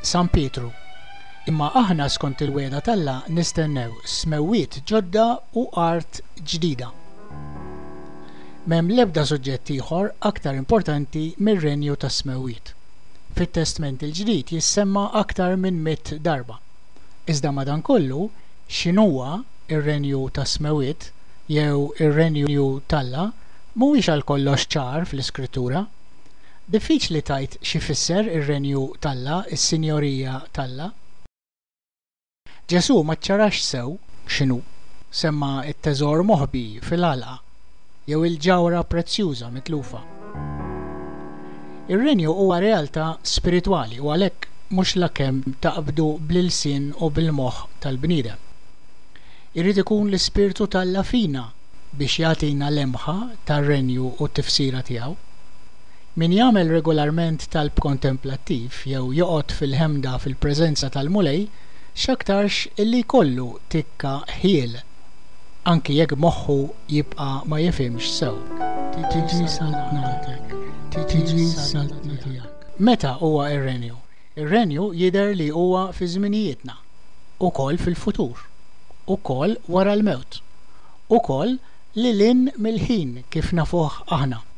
San Pietru. Imma aħna skont il-wegħda t'Alla nistennew smewwiet ġodda u art ġdida. M'hemm l-ebda suġġett ieħor aktar importanti mir-Renju tas-Smewwiet. fit-Testment il-Ġdid jissemma aktar minn mitt darba. Iżda madankollu, x'inhuwa r-Renju tas-Smewwiet jew ir-Renju t'Alla mhuwiex għalkollox ċar fl-Iskrittura. Diffiċli tgħid x'ifisser ir-Renju t'Alla, is-Sinjorija t'Alla. Ġesù ma ċċarax sew x'inhu, semma t-teżor moħbi fil-għalqa jew il-ġawhra prezzjuża mitlufa. Ir-Renju huwa realtà spiritwali u għalhekk mhux lakemm taqbdu bl-ilsien u bil-moħħ tal-bniedem. Irid ikun l-Ispirtu t'Alla fina biex jagħtina lemħa tar-Renju u t-tifsira tiegħu. Min jagħmel regolarment talb kontemplattiv jew joqgħod fil-ħemda fil-preżenza tal-Mulej x'aktarx illi jkollu tikka ħjiel, anki jekk moħħu jibqa' ma jifhimx sew. Tiġi saltnatek, tiġi s-saltna tiegħek. Meta huwa r-Renju? Ir-Renju jidher li huwa fi żminijietna, ukoll fil-futur, ukoll wara l-mewt, ukoll lil hinn mill-ħin kif nafuh aħna.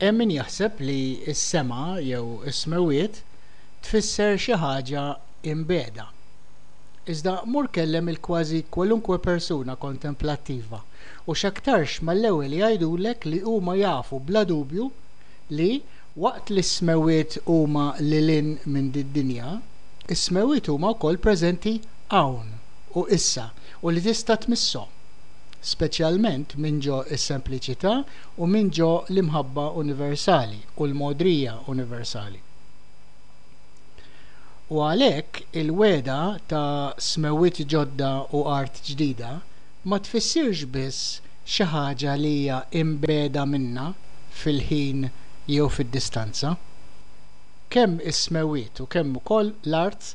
Hemm min jaħseb li s-sema jew is-smewwiet tfisser xi ħaġa imbiegħda. Iżda mur kellem il-kważi kwalunkwe persuna kontemplattiva u x'aktarx mal-ewwel jgħidulek li huma jafu bla dubju li, waqt li s-smewwiet huma lil hinn minn did-dinja, is-smewwiet huma wkoll preżenti hawn u issa u li tista' tmisshom, speċjalment minn ġo s-sempliċità u minn ġo l-imħabba universali u l-mogħdrija universali. U għalhekk il-wegħda ta' smewwiet ġodda u art ġdida ma tfissirx biss xi ħaġa li hija imbegħda minna fil-ħin jew fid-distanza. Kemm is-smewwiet u kemm ukoll l-art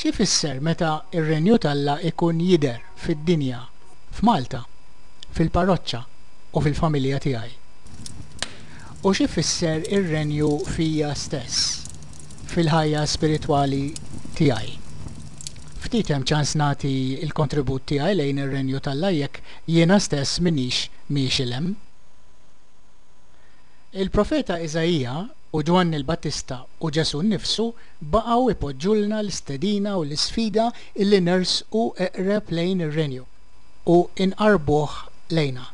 X'ifisser meta r-Renju t'Alla jkun jidher fid-dinja, f'Malta, fil-parroċċa u fil-familja tiegħi? U x'ifisser ir-Renju fija stess, fil-ħajja spiritwali tiegħi? Ftit hemm ċans nagħti l-kontribut tiegħi lejn ir-Renju t'Alla jekk jiena stess m'iniex miexi 'l hemm. Il-profeta Iżaija u Ġwanni l-Battista u Ġesù nnifsu baqgħu jpoġġulna l-istedina u l-isfida li nersqu eqreb lejn ir-Renju u nqarrbuh lejna.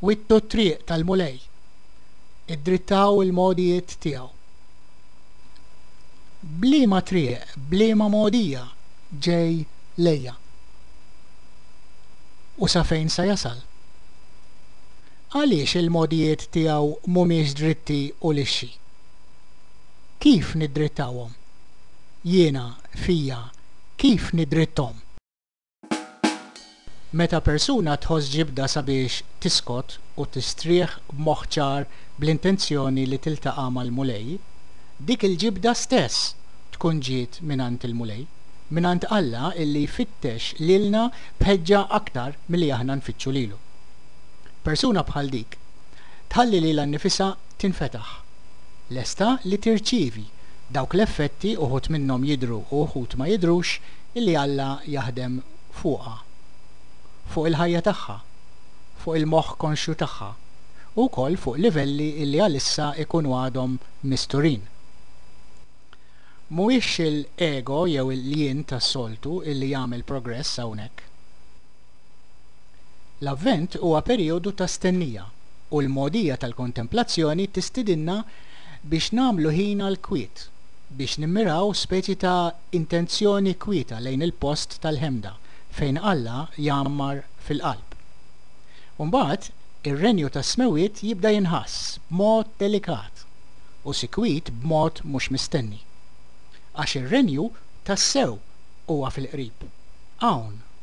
Wittu t-triq tal-Mulej. Iddrittaw il-mogħdijiet tiegħu. B'liema triq, b'liema mogħdija ġej lejja? U sa fejn sa jasal? Għaliex il-mogħdijiet tiegħu m'humiex dritti u lixxi? Kif niddrittahom? Jiena, fija, kif niddritthom? Meta persuna tħoss ġibda sabiex tiskot u tistrieħ b'moħħ ċar bl-intenzjoni li tiltaqa' mal-Mulej, dik il-ġibda stess tkun ġiet mingħand il-Mulej, mingħand Alla illi jfittex lilna b'ħeġġa aktar milli aħna nfittxu lilu. Persuna bħal dik tħalli lilha nnifisha tinfetaħ, lesta li tirċievi dawk l-effetti, uħud minnhom jidhru u uħud ma jidhrux, li Alla jaħdem fuqha, fuq il-ħajja tagħha, fuq il-moħħ konxju tagħha, u wkoll fuq livelli li għalissa jkunu għadhom misturin. Mhuwiex l-ego jew il-jien tas-soltu li jagħmel progress hawnhekk. L-Avvent huwa perijodu ta' stennija, u l-mogħdija tal-kontemplazzjoni tistidinna biex nagħmlu ħin għall-kwiet, biex nimmiraw speċi ta' intenzjoni kwieta lejn il-post tal-ħemda fejn Alla jgħammar fil-qalb. U mbagħad, ir-Renju tas-Smewwiet jibda jinħass b'mod delikat u sikwit b'mod mhux mistenni. Għax ir-Renju tassew huwa fil-qrib, hawn